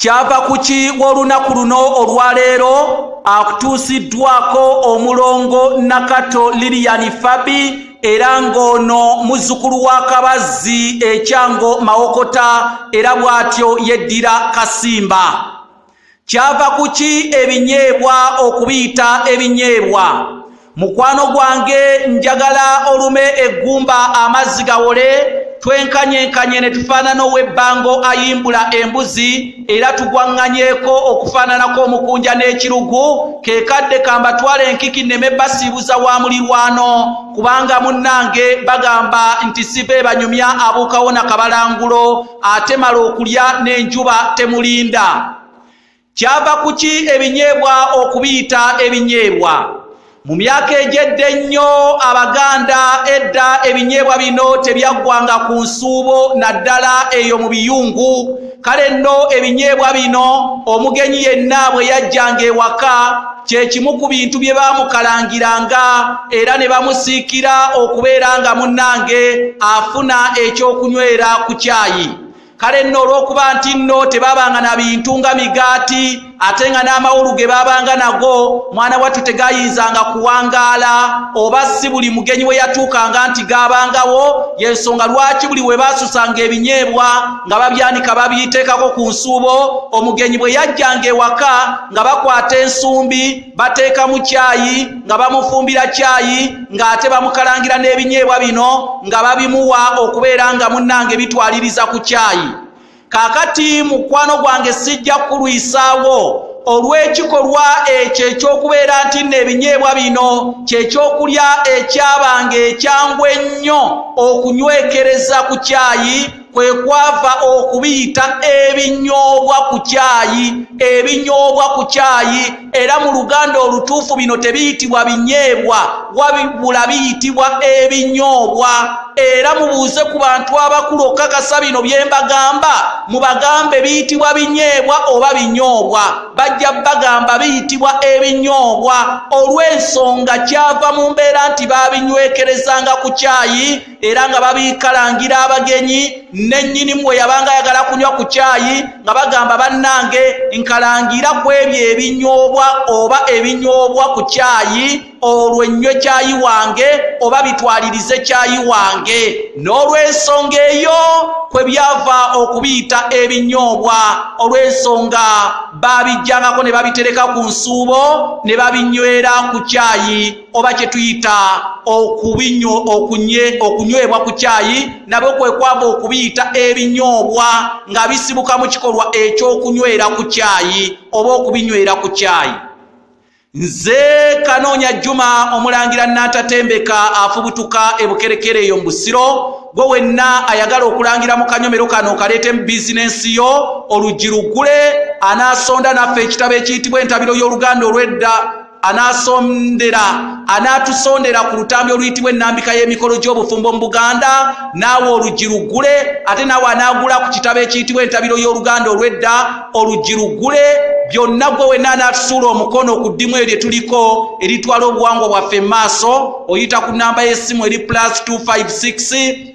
kyava kuki w'olunaku luno olwaleero akutuusiddwako omulongo nakato liliyani fabi era ng'ono muzzukulu wa kabazzi ekyango mawokota era bw'atyo yeddira kasimba kyava ku ki ebinyeebwa okubiyita ebinyeebwa mukwano gwange njagala olume eggumba amazzi gawole twenkanyenkanye ne tufaanana ow'ebbango ayimbula embuzi era tugwaŋŋanyeeko okufaananako omukunja n'ekirugu ke kadde kambatwala enkiki nneme basiibuza wa mulirwano kubanga munnange bagamba nti siva ebanyumya abuukawo na kabalangulo ate mala okulya n'enjuba temulinda kyava ku ki ebinyeebwa okubiyita ebinyeebwa mu myaka egyedda ennyo abaganda edda ebinyeebwa bino tebyaggwanga ku nsuubo naddala eyo mu biyungu kale nno ebinyeebwa bino omugenyi yenna bwe yajjanga ewaka kye kimu ku bintu bye baamukalangiranga era ne bamusiikira okubeera nga munnange afuna ekyokunywera ku kyayi kale nno olw'okuba nti nno tebabanga na bintu nga migaati ate nga n'amawulu ge babanga nago mwana wattu tegayinzanga kuwangaala oba si buli mugenyi we yatuukanga nti gaabangawo y'ensonga lwaki buli we baasusanga ebinyeebwa nga babyanika babiyiteekako ku nsuubo omugenyi bwe yajjanga ewaka nga bakwata ensumbi bateeka mu kyayi nga bamufumbira kyayi ng'ate bamukalangira n'ebinyeebwa bino nga babimuwa okubeera nga munnange bitwaliriza ku kyayi kaakati mukwano gwange sijja kukulwisaawo olw'ekikolwa ekyo eky'okubeera nti nno ebinyeebwa bino kyekyokulya ekyabanga ekyangu ennyo okunywekereza ku kyayi kwe kwava okubiyita ebinyoobwa ku kyayi ebinyoobwa ku kyayi era mu luganda olutuufu bino tebiyitibwa binyeebwa wabula biyitibwa ebinyoobwa era mubuuze ku bantu abakulu okukakasa bino bye mbagamba mubagambe biyitibwa binyeebwa oba binyoobwa bajja bagamba biyitibwa ebinyoobwa olw'ensonga kyava mu mbeera nti baabinywekerezanga ku kyayi era nga babikalangira abagenyi nennyinimu bwe yabanga ayagala kunywa ku kyayi nga bagamba bannange nkalangira ku ebyo ebinywobwa oba ebinywobwa ku kyayi olwo ennywe kyayi wange oba bitwalirize kyayi wange n'olw'ensonga eyo kwe byava okubiyita ebinywobwa olw'ensonga baabijjangako ne babitereka ku nsuubo ne babinywera ku kyayi oba kye tuyita okubinyo okunye okunywebwa ku kyayi nabwe kwe kwava okubiyita ebinyoobwa nga bisibuka mu kikolwa eky'okunywera ku kyayi oba okubinywera ku kyayi nze kanoonya juma omulangira natatembeka afubutuka ebukerekere eyo mu busiro gwe wenna ayagala okulangira mu kanyomero kano okaleete mu bizinensi yo oluggi luggule anaasonda naffe ekitabo ekiyitibwa entabiro y'oluganda olw'edda anasondera anatusondera ku lutambi oluyitibwa ennambika y'emikolo gy'obufumbo mu buganda naawe oluggi luggule ate naawe anaagula ku kitabo ekiyitibwa entabiro y'oluganda olw'edda oluggi luggule byonna gwe wenna anaatusuula omukono ku ddimu eryo tuliko eritwala obuwangwa bwaffe mu maaso oyita ku nnamba y'essimu eri plus 256